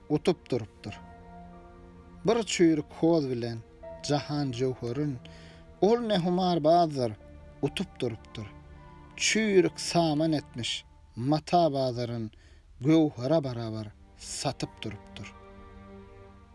Utup durupdyr. Bir çüýrük hoz bilen Jahan Jöwherin Ol ne humarbazdyr, utup durupdyr. Çüýrük saman etmiş, mata bazaryn Göwhera barabar satyp durupdyr.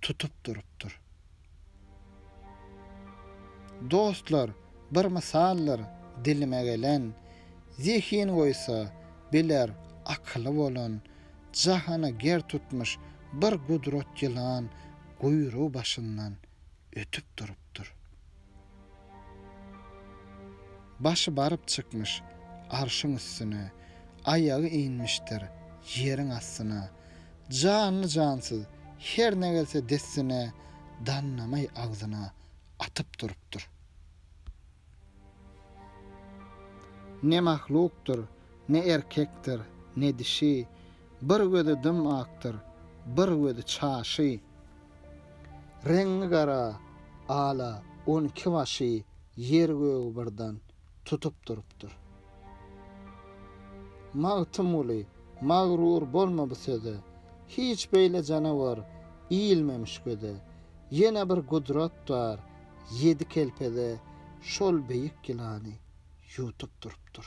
tutup durupdyr. Dostlar, bir mysaldyr dilime gelen, Zehin goýsa, biler, akyly bolan, Jahany ger tutmuş bir gudrat ýylan Guýrugy başyndan ötüp durupdyr. Başy baryp çykmyş arşyň üstüne, Aýagy inmişdir ýeriň astyna. Janly-jansyz her ne gelse dessine, Dannamaý agzyna atyp durupdyr. Ne mahlukdyr, ne erkekdir, ne dişi, Bir gözi dym-akdyr, bir gözi çaşy. Reňňi gara, ala, on iki başy ýer-gögi birden tutup durupdyr. Magtymguly, Magrur bolma bu söze, Hiç beýle janawar iýilmemiş göze, Ýene bir gudrat bar, ýedi kelpeze Şol beýik ýylany ýutup durupdyr.